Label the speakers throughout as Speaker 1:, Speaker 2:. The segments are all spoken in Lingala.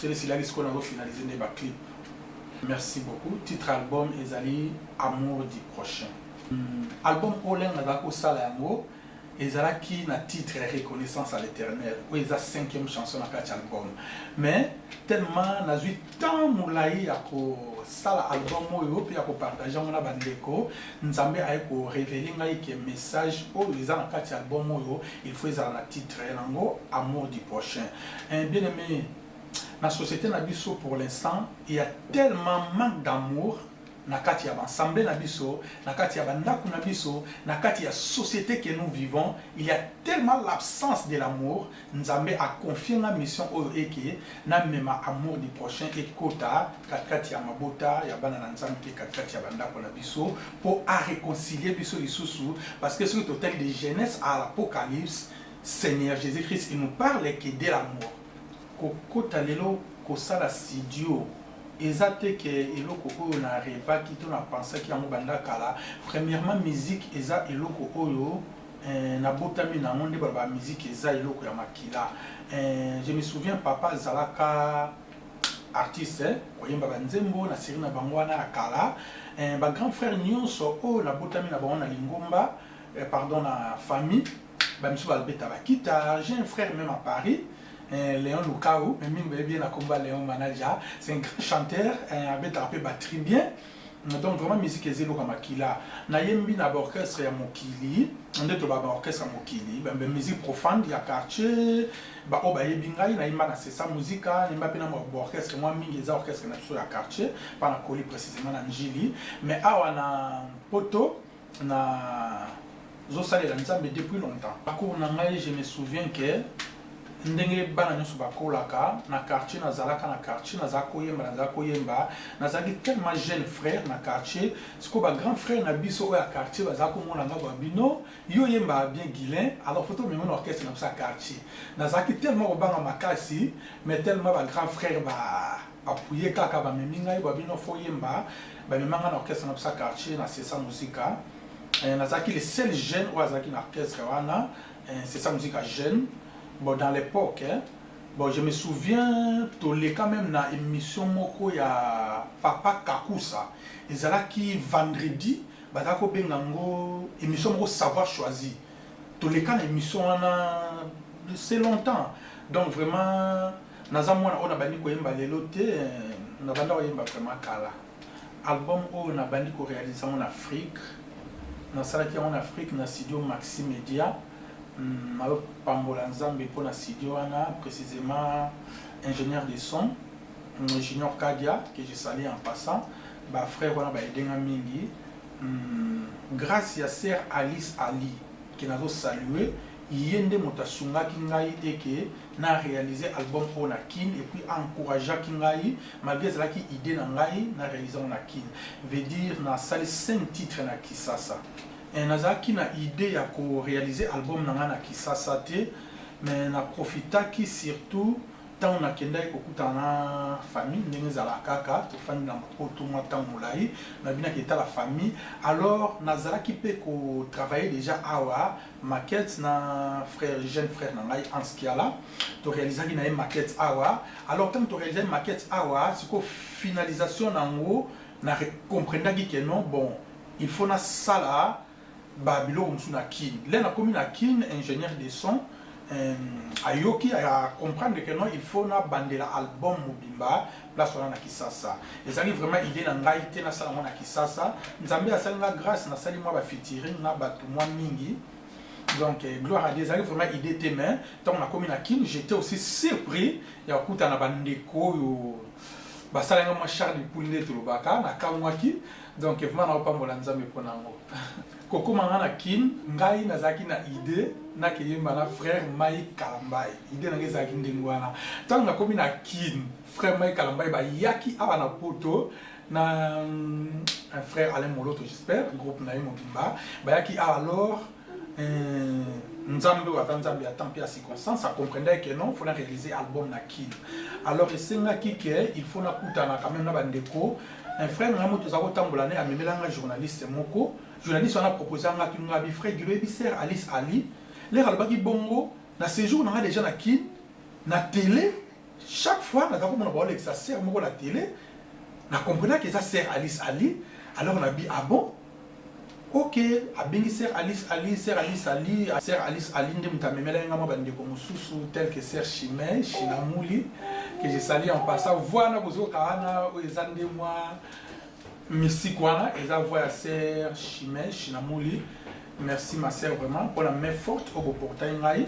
Speaker 1: sele silaki sikoyo nazo finaliser nde ba clip merci beaucoup titre album ezali amour du prochain hmm. album oyo lenge nazalaki kosala yango ezalaki na titre ya reconnaissance à l'éternel oyo eza cinquième chanson na kati album mais tellement nazwi temps molai ya kosala album oyo mpe ya kopartage yango na bandeko nzambe aye korevele ngai ke message oyo eza na kati ya album oyo il faut ezala na titre yango amour du prochain Eh, bien aimé, na société na biso pour l'instant, il y a tellement manque d'amour na kati ya bansambe na biso, na kati ya bandako na biso, na kati ya société que nous vivons, il y a tellement l'absence de l'amour, Nzambe a confié nga mission oyo eke na mema amour du prochain ekota katikati ya mabota ya bana na Nzambe pe katikati ya bandako na biso po a réconcilier biso lisusu parce que soki totali de Genèse à l'Apocalypse Seigneur Jesus Christ il nous parle que de la mort. Kokota lelo kosala studio eza te ke eloko oyo na revaki to na pensaki yango banda kala. Premièrement musique eza eloko oyo eh, nabotami na yango nde baloba musique eza eloko ya makila. Eh, je me souviens papa azalaka artiste eh, koyemba banzembo na siri na bango wana ya kala. Eh, ba grand frère nyonso oyo nabotami na bango na lingomba eh, pardon na famille ba misusu ba beta ba guitare j'ai un frère même à Paris eh, Léon Lukau mais mingi bayebi na komba Léon Manaja c'est un grand chanteur eh, abetaka mpe batterie bien donc vraiment musique eza eloko ya makila nayembi na baorchestre ya mokili nde toloba baorchestre ya mokili musique profane ya quartier baoyo bayebi ngai nayemba na sesa musika nayemba mpe na baorchestre mwa mingi eza orchestre na biso ya quartier mpa na koli précisément na njili mais awa na poto Na zo salela Nzambe depuis longtemps. Parcours na ngai je me souviens que ndenge bana nionso ba kolaka na quartier na zalaka na quartier na za ko yemba na za ko yemba na zalaki tellement jeune frère na quartier siko ba grand frère na biso oya quartier ba za ko mona nga ba bino yo yemba bien Guilain alors photo meme na orchestre na biso ya quartier na zalaki tellement ko banga makasi mais tellement ba grand frère ba appuyer kaka ba memi ngai ba bino faut yemba ba mema ngai na orchestre na bisa quartier na sesa musica euh, nazalaki le seul jeune oyo azalaki na orchestre wana euh, sesa musica jeune bon dans l'époque hein, bon je me souviens toleka même na émission moko ya papa kakusa ezalaki vendredi bazalaki kobenga yango émission moko savoir choisir toleka na émission wana c'est longtemps donc vraiment Naza mwana oyo nabandi koyemba lelo te, nabanda koyemba vraiment kala. Album oyo nabandi ko realiser yango na Afrique, nasalaki yango na Afrique na studio Maxi Media. Nazo pambola Nzambe mpo na studio wana, precisement ingenieur de son Junior Kadia que je salue en passant. Ba frères wana ba aider nga mingi. Grace ya sœur Alice Ali que nazo saluer, ye nde moto asungaki ngai et que na realiser album oyo na kin et puis a encourageaki ngai malgré ezalaki idée na ngai na realiser yango na kin veut dire nasali 5 titres na kisasa eh, nazalaki na idée ya ko realiser album na ngai na kisasa te mais na profitaki surtout ntango nakendaki kokutana na famille ndenge ezalaka kaka tofandi na mapoto mwa ntango molai nabinaki etala famille alors nazalaki mpe kotravaille déjà awa maquette na frère jeune frère na ngai Hans Kiala to réalisaki na ye maquette awa alors tant to réalisaki maquette awa siko finalisation nango na comprendaki que non bon il faut na sala ba biloko mosusu na Kin le nakomi na Kin ingénieur de son euh, ayoki a comprendre que non il faut na bandela album mobimba place wana na kisasa ezali vraiment idée na ngai te nasala yango na kisasa nzambe asali nga grâce nasali mwa bafitiring na bato mwa mingi donc eh, gloire à dieu ezali vraiment idée te mais ntango nakomi na kin j'étais aussi surpris ya kokutana bandeko oyo basala nga mwa charle poule nde tolobaka nakamwaki donc vraiment naopambola nzambe mpo na yango Kokoma nga na kin, ngai nazalaki na idee nake yemba na frère Mike Kalambay. Idee nanga ezalaki ndenge wana. Tango nakomi na kin, frère Mike Kalambay bayaki awa na poto na un frère Alain Moloto j'espère, groupe na ye mobimba. Bayaki awa alors euh, nzambe oyo aza nzambe ya temps mpe ya circonstance acomprendaki ke non fo na réalise album na kin alors esengaki ke il faut nakutana quand même na bandeko un frère na ngai moto toza kotambola ne amemela ngai journaliste moko journaliste wana proposa ngai atuni ngai abi frère gilo yebi sere alice ali lere alobaki bongo na séjour na ngai déjà na kin na télé chaque fois naza komona baolekisa sere moko na télé na comprenaki eza sere alice ali alors nabi ah bon ok abengi sœur alice ali sœur alice ali sœur alice ali nde moto amemelaki nga mwa bandeko mosusu tel que sœur chime chinamuli que je sali en passant voi wana bozoka wana oyo eza nde mwa mystique wana eza voi ya sœur chime chinamuli merci ma sœur vraiment mpona main forte oyo boportai ngai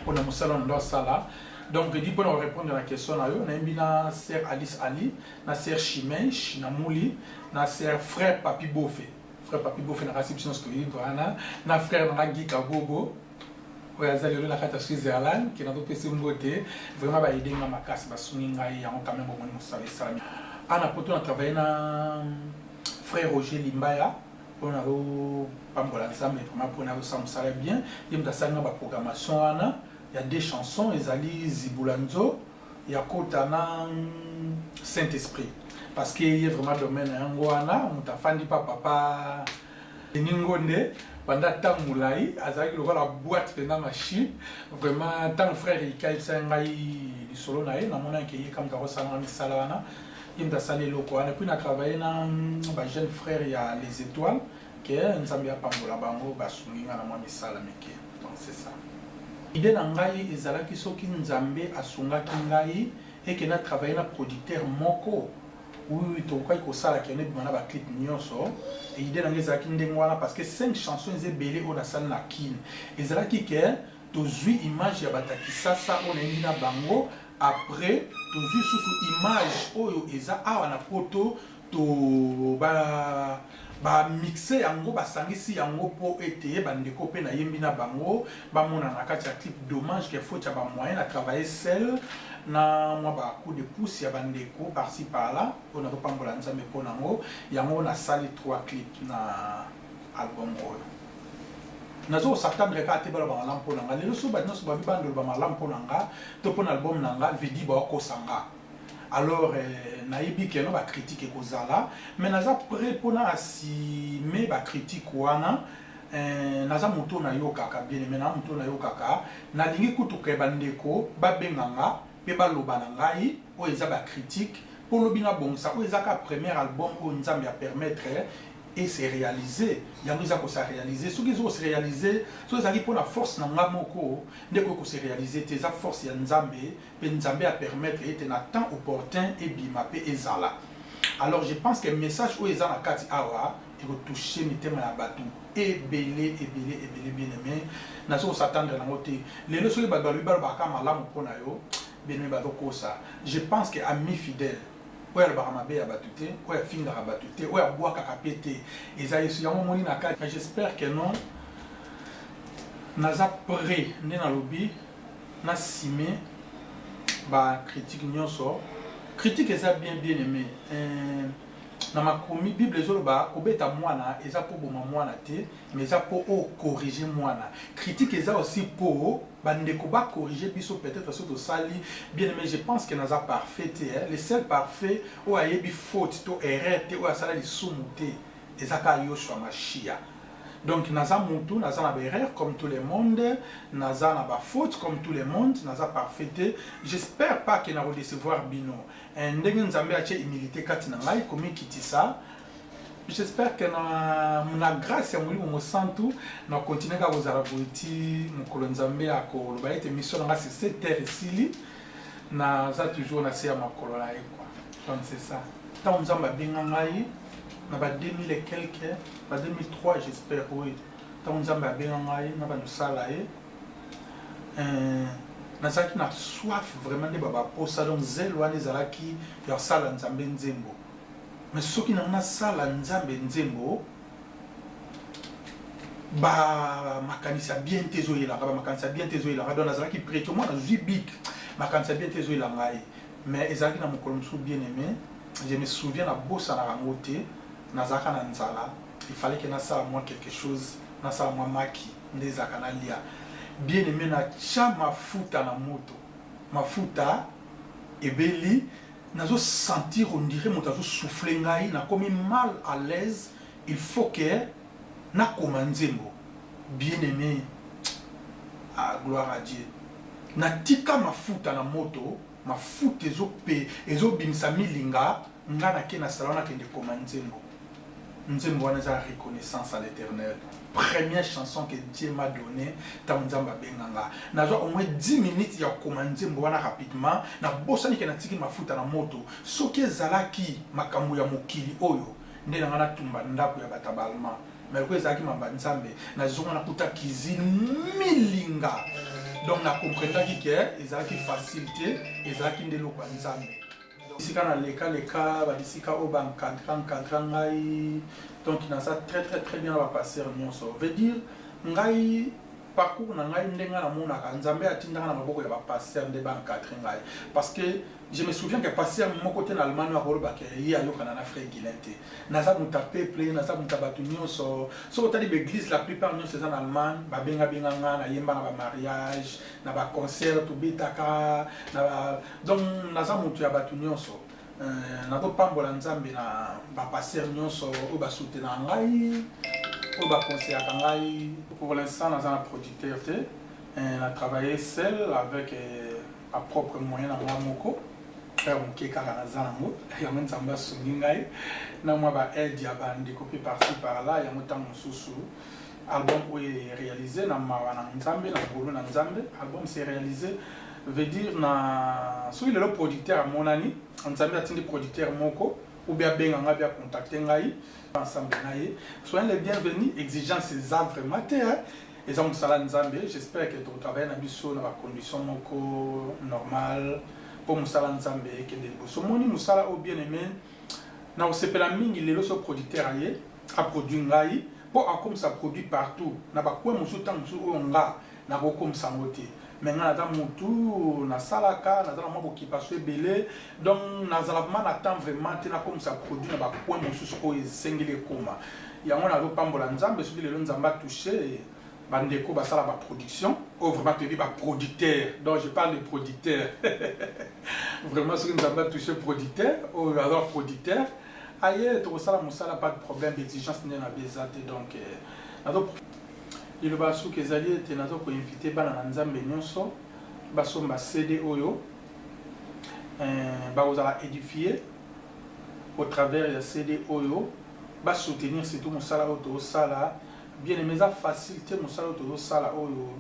Speaker 1: mpo na mosala na ndo asala donc di mpo na korépondre na question na yo nayembi na sœur alice ali na sœur chimèche na muli na sœur frère papi bofe frère papi bofe na kasi biso nyonso toyebi wana na frère na nga gi kabobo oyo aza lelo na kati ya switzerland kena topesi mbote vraiment baide nga makasi basungi ngai yango quand même omoni mosala esalami ana poto na travaille na frère roger limbaya pona o pambola nzambe vraiment pona yo sa musala bien ye mutu asali nga ba programmation wana ya deux chansons ezali zibula nzo ya kota na saint esprit parce que ye vraiment domaine na yango wana mutu afandi pa papa Denis Ngonde banda ntango molai azalaki lokola boite mpenza machine vraiment ntango frère ika ayebisaki ngai lisolo na ye namonaki ye kamata kosala misala wana ye moto asali eloko wana puis na travaille na ba jeune frère ya les étoiles ke nzambe apambola bango basungi nga na mwa misala mike donc c'est ça ide na ngai ezalaki soki nzambe asungaki ngai eke na travaille na producteur moko oui tokokaki kosala kende bima na baclip nyonso idée na ngai ezalaki ndenge wana parce que cinq chansons eza ebele oyo nasali na kine ezalaki ke tozwi image ya bato ya kisasa oyo nayebi na bango Après tozui lisusu image oyo eza awa na poto to ba ba mixe yango basangisi yango po ete ba ndeko pe nayembi na bango bamona na kati ya clip dommage que faute ya ba moyen na travailler seul na mwa ba coup de pouce ya ba ndeko par ci par là oyo nazopambola nzambe po nango yango nasali 3 clip na album oyo nazo ko s'attendre kaka te baloba malamu mpo na nga lelo so bato nyonso babi bando loba malamu mpo na nga to mpo na album na nga vidi baokosa nga alors eh, nayebi keno bacritique ekozala mais naza prêt mpo na asime bacritique wana eh, naza moto nayokaka bien me na moto nayokaka nalingi kutuka bandeko babenga nga mpe baloba na ngai oyo eza bacritique mpo lobi nabongisa oyo eza ka premier album oyo nzambe apermettre e se realiser yango eza ko sa realiser soki ezo se realiser soki ezalaki mpo na force na nga moko nde ekoki ko se realiser te eza force ya nzambe mpe nzambe a permettre ete na temps opportun ebima mpe ezala alors je pense que message oyo eza na kati awa ekotouche mitema ya bato ebele ebele ebele bien aime nazo kosatandre nango te lelo soki bato balobi balobaka malamu mpo na yo bien aime bazokosa je pense que ami fidèle oyo alobaka mabe ya batu te oyo afingaka batu te oyo abwakaka pe te eza yesu yango omoni na kati mais j'espère que non naza près nde nalobi na sime ba critique nyonso critique eza bien bien aimé euh, na makomi bible ezoloba kobeta mwana eza koboma mwana te mais eza po o corriger mwana critique eza aussi po ba ndeko ba corriger biso peut-etre soki tosali bien aime je pense que naza parfait te hein? le seul parfait oyo ayebi faute to erreur te oyo asala lisumu te eza ka Yoshua Mashiach donc naza mutu naza na ba erreur comme tout le monde naza na ba faute comme tout le monde naza parfait te j'espère pas que na ko décevoir bino ndenge nzambe atie humilité kati na ngai komikitisa J'espère que na, na grâce ya Molimo Mosantu na continuer kaka kozala boye ti mokolo Nzambe akoloba ete mission na nga sur cette terre esili naza toujours na se ya makolo na ye quoi. Donc c'est ça. Ntango Nzambe abenga ngai na ba 2000 et quelque ba 2003 j'espère oui ntango Nzambe abenga ngai na bando sala ye euh, nazalaki na soif vraiment nde babaposa donc zele wana ezalaki ya sala Nzambe nzembo Mais soki na nga sala nzambe nzembo ba makanisa bien te ezo yela nga ba makanisa bien te ezo yela nga donc nazalaki prêtre moi nazui bic makanisa bien te ezo yela nga ye mais ezalaki na mokolo mosusu bien aimé je me souviens na bosana yango te nazalaka na nzala il fallait que nasala moi quelque chose nasala mwa maki nde ezalaka nalia bien aime natya mafuta na moto mafuta ebeli Nazo sentir on dirait moto azo souffler ngai, nakomi mal à l'aise, il faut que nakoma nzembo. Bien aime, ah gloire à Dieu. Natika mafuta na moto, mafuta ezo pe, ezo bimisa milinga, nga nake na salon nakende koma nzembo. Nzembo wana eza reconnaissance à l'Eternel. Première chanson que Dieu m'a donné tango Nzambe abenga nga. Nazwa au moins 10 minutes ya kokoma nzembo wana rapidement, na bosani ke natiki mafuta na moto. Soki ezalaki makambo ya mokili oyo, nde na nga natumba ndako ya bata ba Allemand. Mais lokola ezalaki maloba ya Nzambe, nazonga nakuta cuisine milinga. Donc na comprenaki ke ezalaki facile te, ezalaki nde eloko ya Nzambe. bisika na leka leka ba bisika oyo ba encadra encadra ngai donc naza très très très bien na ba pasteur nyonso veut dire ngai parcours na ngai ndenge namonaka nzambe atindaka na maboko ya ba pasteur nde ba encadre ngai parce que je me souviens que pasteur moko te na allemagne akoloba ke ye ayokana na frère guilin te naza moto ya peuple naza moto ya bato nyonso soki otali baeglise la plupart nyonso eza na allemagne babengabenga nga nayemba na bamariage na baconcert tobetaka na Donc naza mutu ya batu nyonso euh, nazopambola nzambe na bapasteur nyonso oyo basutenaka ngai oyo bakonseyaka ngai pour l'instant naza na producteur te euh, na travaille seul avec euh, ma propre moyen na mwa moko frère moke kaka naza nango yango nzambe asungi ngai na mwa baaide ya bandeko mpe parti par là yango ntango mosusu album oyo e realiser na mawa na nzambe na ngolu na nzambe album se realiser veut dire na soki lelo producteur amonani nzambe atindi producteur moko ou bien abenga ngai bia contacter ngai ensemble na ye soyez le bienvenu exigence eza vraiment te eza mosala nzambe j'espère que tokotravaille na biso na bacondition moko normale mpo mosala nzambe ekende liboso omoni mosala oyo bien aimé Nakosepela mingi lelo soki producteur aye a produit ngai po akomisa produit partout na ba coin mosusu tango mosusu oyo nga nakokomisa yango te mais nga naza mutu nasalaka naza na mwa bokipasio ebele donc nazala vraiment na temps vraiment te nakomisa produit na ba coin mosusu oyo esengeli ekoma yango nazopambola nzambe soki lelo nzambe atouche ba ndeko ba sala ba production oyo vraiment toyebi ba producteur donc je parle de producteur vraiment soki nzambe atouche producteur oyo aza producteur aye tokosala mosala pas de problème d'exigence nde na beza te donc euh, nazo liloba ya suka ezali ete nazo koinvite bana na nzambe nyonso basomba cd oyo euh, bakozala édifie au travers ya cd oyo basoutenir surtout mosala oyo tozosala Bien aime eza facile te mosala oyo tozo sala oyo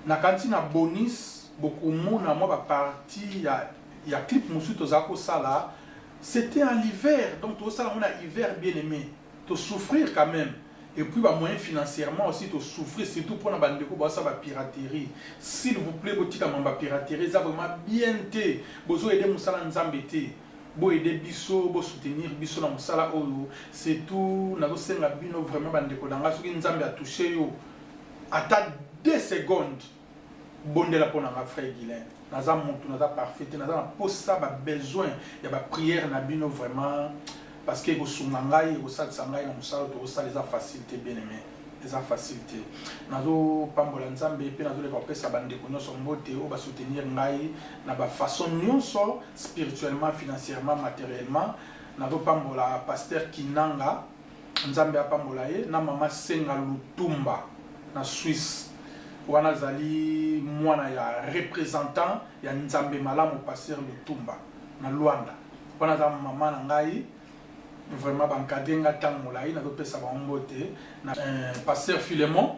Speaker 1: na kanisi na bonis bokomona mwa ba partie ya ya clip mosusu toza kosala c'était en l'hiver donc tozo sala ngo na hiver bien aime to souffrir quand même et puis ba moyens financièrement aussi to souffrir surtout pona ba ndeko ba sa ba piraterie s'il vous plaît botika mamba piraterie eza vraiment bien te bozo aider musala nzambe te bo aider biso bo soutenir biso na musala oyo c'est tout nazo senga bino vraiment ba ndeko na nga soki nzambe a toucher yo ata 2 secondes bondela pona nga frère Guylain naza mutu naza parfait te naza na posa ba besoin ya ba prière na bino vraiment parce que ekosunga ngai ekosalisa ngai na musala oyo tokosala eza facile te bien aimé eza facile te nazopambola nzambe mpe nazoleka kopesa bandeko nyonso mbote oyo basoutenir ngai na bafaçon nyonso spirituellement financièrement matériellement nazopambola paster kinanga nzambe apambola ye na mama senga lutumba na swisse wana azali mwana ya représentant ya nzambe malamu paster lutumba na luanda wana aza mama na ngai Vraiment ba encadrer nga tango molayi nazo pesa bango mbote na euh, pasteur Philemon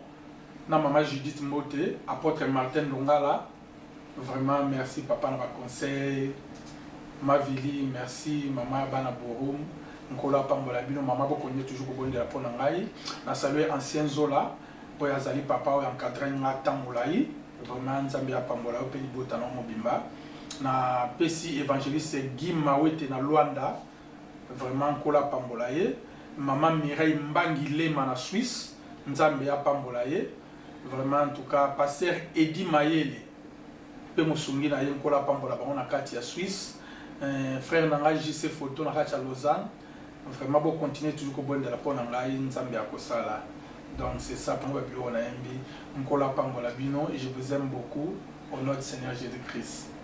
Speaker 1: na mama Judith mbote apôtre Martin Ndongala vraiment merci papa na ba conseil Mavili merci mama bana Borum nkolo apambola bino mama bokonye toujours kobondela mpo na ngai na salue ancien zola oyo azali papa oyo encadre nga ntango molai vraiment nzambe apambola yo mpe libota na yo mobimba napesi évangéliste guy mawete na luanda Vraiment nkolo apambola ye. Maman Mireille Mbangi Lema na Suisse nzambe apambola ye vraiment en tout cas pasteur Eddy Mayele pe mosungi na ye nkolo apambola bango na kati ya Suisse euh, frère na ngai JC Photo na kati ya Lausanne vraiment bo continuer toujours kobondela mpo na ngai nzambe akosala donc c'est ça bango ba biloko na yembi nkolo apambola bino je vous aime beaucoup au nom du Seigneur Jésus-Christ